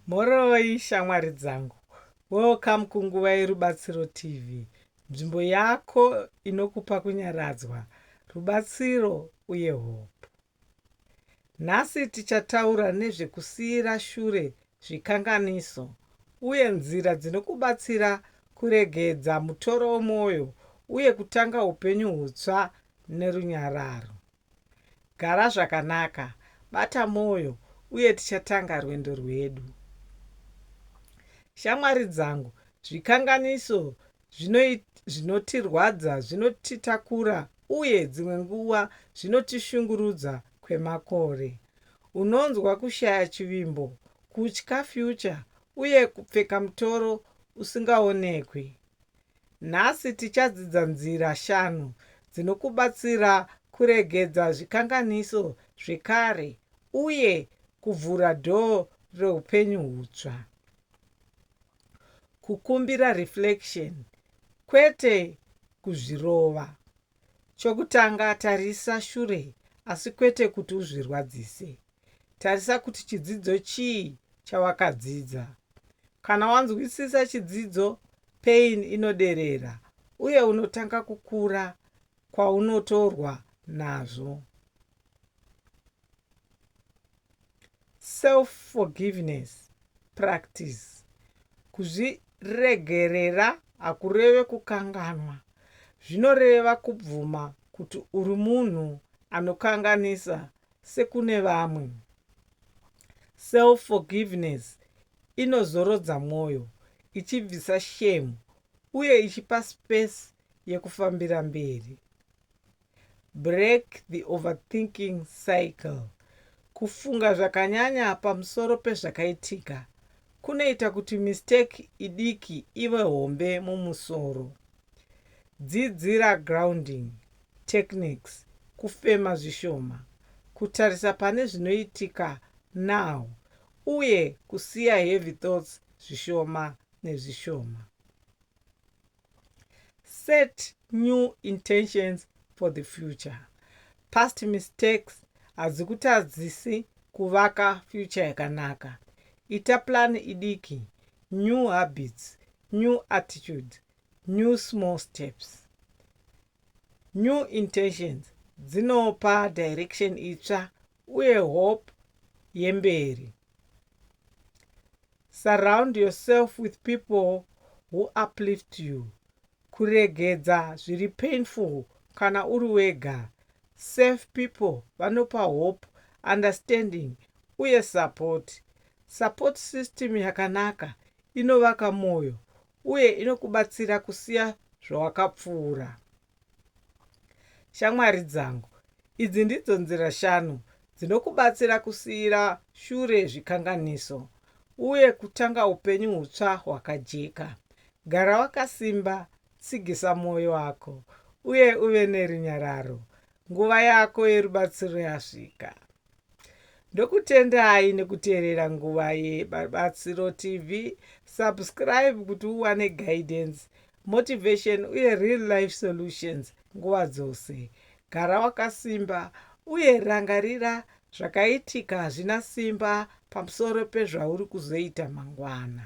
Mhoroi shamwari dzangu. Welcome kunguva yeRubatsiro TV, nzvimbo yako inokupa kunyaradzwa, rubatsiro uye hope. Nhasi tichataura nezvekusiyira shure zvikanganiso uye nzira dzinokubatsira kuregedza mutoro wemwoyo uye kutanga upenyu hutsva nerunyararo. Gara zvakanaka, bata mwoyo, uye tichatanga rwendo rwedu. Shamwari dzangu, zvikanganiso zvinotirwadza, zvinotitakura, uye dzimwe nguva zvinotishungurudza kwemakore. Unonzwa kushaya chivimbo, kutya future, uye kupfeka mutoro usingaonekwi. Nhasi tichadzidza nzira shanu dzinokubatsira kuregedza zvikanganiso zvekare uye kuvhura dhoo reupenyu hutsva. Kukumbira reflection, kwete kuzvirova. Chokutanga, tarisa shure asi kwete kuti uzvirwadzise. Tarisa kuti chidzidzo chii chawakadzidza. Kana wanzwisisa chidzidzo, pain inoderera uye unotanga kukura kwaunotorwa nazvo. Self forgiveness practice, kuzviregerera hakureve kukanganwa, zvinoreva kubvuma kuti uri munhu anokanganisa sekune vamwe. Self forgiveness inozorodza mwoyo, ichibvisa shame uye ichipa space yekufambira mberi. Break the overthinking cycle. Kufunga zvakanyanya pamusoro pezvakaitika kunoita kuti mistake idiki ive hombe mumusoro. Dzidzira grounding techniques, kufema zvishoma, kutarisa pane zvinoitika now, uye kusiya heavy thoughts zvishoma nezvishoma. set new intentions for the future past mistakes hadzikutadzisi kuvaka future yakanaka ita plan idiki new habits new attitudes new small steps new intentions dzinopa direction itsva uye hope yemberi. Surround yourself with people who uplift you. Kuregedza zviri painful kana uri wega. Safe people vanopa hope, understanding uye support. Support system yakanaka inovaka moyo uye inokubatsira kusiya zvawakapfuura. Shamwari dzangu, idzi ndidzo nzira shanu dzinokubatsira kusiira shure zvikanganiso uye kutanga upenyu hutsva hwakajeka. Gara wakasimba, tsigisa mwoyo wako, uye uve nerunyararo. Nguva yako yerubatsiro yasvika. Ndokutendai nekuteerera nguva yeBatsiro TV. Subscribe kuti uwane guidance, motivation uye real life solutions nguva dzose. Gara wakasimba uye rangarira zvakaitika hazvina simba pamusoro pezvauri kuzoita mangwana.